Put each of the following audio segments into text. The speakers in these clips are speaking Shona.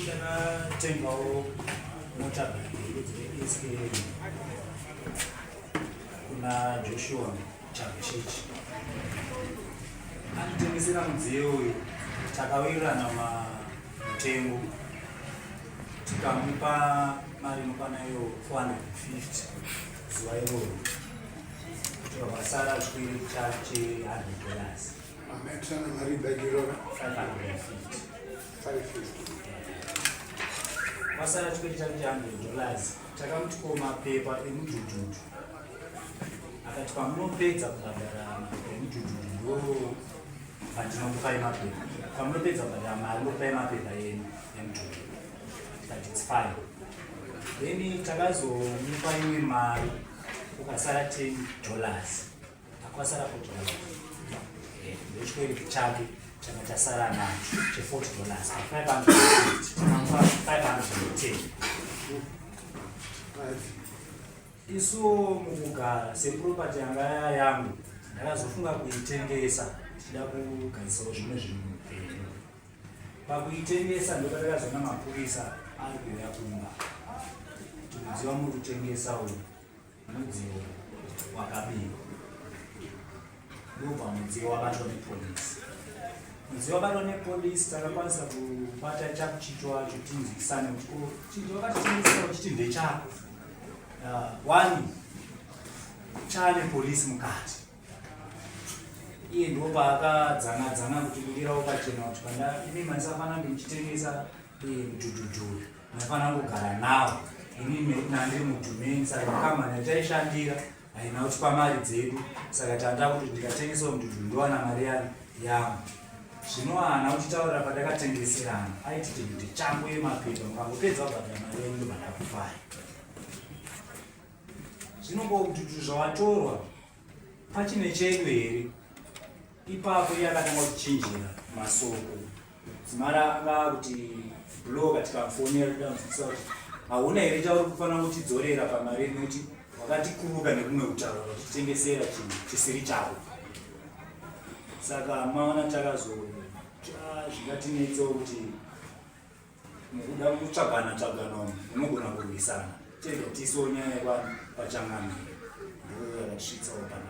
Ndakatengawo mota dzekuSK kuna Joshua Chakuchichi anditengesera mudziyo uyu takawirirana mutengo tikamupa mari inokwana iyo 450 zuva iroro tikabasara chikwiyo chake 100 dollars Masana tikoti takuti 100 dollars takamuti ko mapepa emudhudhudhu akati pamunopedza kubhadhara mapepa emudhudhudhu ndo pandinokupai mapepa pamunopedza kubhadhara mari ndokupai mapepa enu emudhudhudhu tikati its fine then takazomupa imwe mari ukasara 10 dollars Kwasara kuti eh, ndochikoiri chake changa chasara nacho cheforty dollars five hundred five hundred ten isu mukugara seproperty yanga yangu ndakazofunga kuitengesa tichida kugadzisawo zvimwe zvinhu mupenyu pakuitengesa ndokatakazoona mapurisa ari kuuya kumba tikuziva muri kutengesa uyu Mudziyo wakabiwa ndobva mudziyo wabatwa nepolisi. Mudziyo wabatwa nepolisi takakwanisa kubata chakuchicho wacho tinzwisane kuti ko chinhu wakatitengesera uchiti ndechako ah, wani chane polisi mukati iye ndopaakadzana dzana kuti kudira ukachena kuti kanda imi maisafana ndimuchitengesa eh, mdhudhudhuri Ndafana kugara nawo ini nekuti nandiri mudhumeni saka makamani ataishandira haina kuti pamari dzedu saka tanda kuti ndikatengesawo mudhudhu ndowana mari yano yangu zvino haana kutitaurira patakatengeserana aiti chibhidhi changu yemapepa mukangopedza kubhadhara mari yenyu ndobhadhara kufara zvino ko mudhudhu zvawatorwa Pachine chedu here? Ipapo iye akatanga kuchinjira masoko. Zimara akanga kuti bloga tikafonera tikamubvunza kuti hauna here chauri kufanira kutidzorera pamari ino kuti wakatikuruka nekumwe kutaura kutitengesera chinhu chisiri chako. Saka maona takazotsva zvingatinetsewo kuti mukuda kutsvagana tsvagana umu unogona kurwisana tega tiso nyaya kwa pachangana ndoyakatisvitsawo pana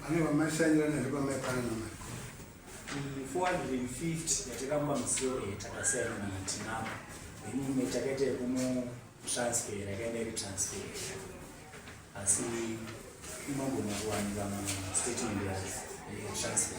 Pane vamashanyira nezve pamai pana namai. 450 yatakamwa musoro yatakasiyana na matinavo imwe takaita yekumutransfer yakaenda iri transfer asi imagona kuwanika mastatement yayo transfer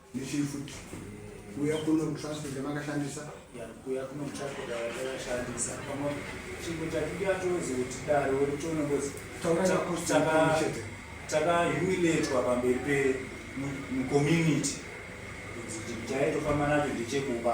Nechii futi? Kuya kuno kutransport yamakashandisa? Ya, kuya kuno kutransport yamakashandisa. Pamwe chimwe chatidi atozi kuti dare uri chono ngozi. Taura chako chaka chete. Taka humiliatwa pamberi pe mu community. Kuti chaito famba nacho ndichekuba.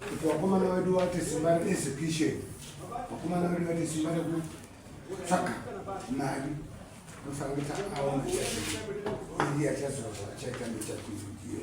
kuti vakomana vedu vati simba reexecution vakomana vedu vati simba rekutsvaga mari nofana kuti aona chaiye achazoa chaita nechakuzudie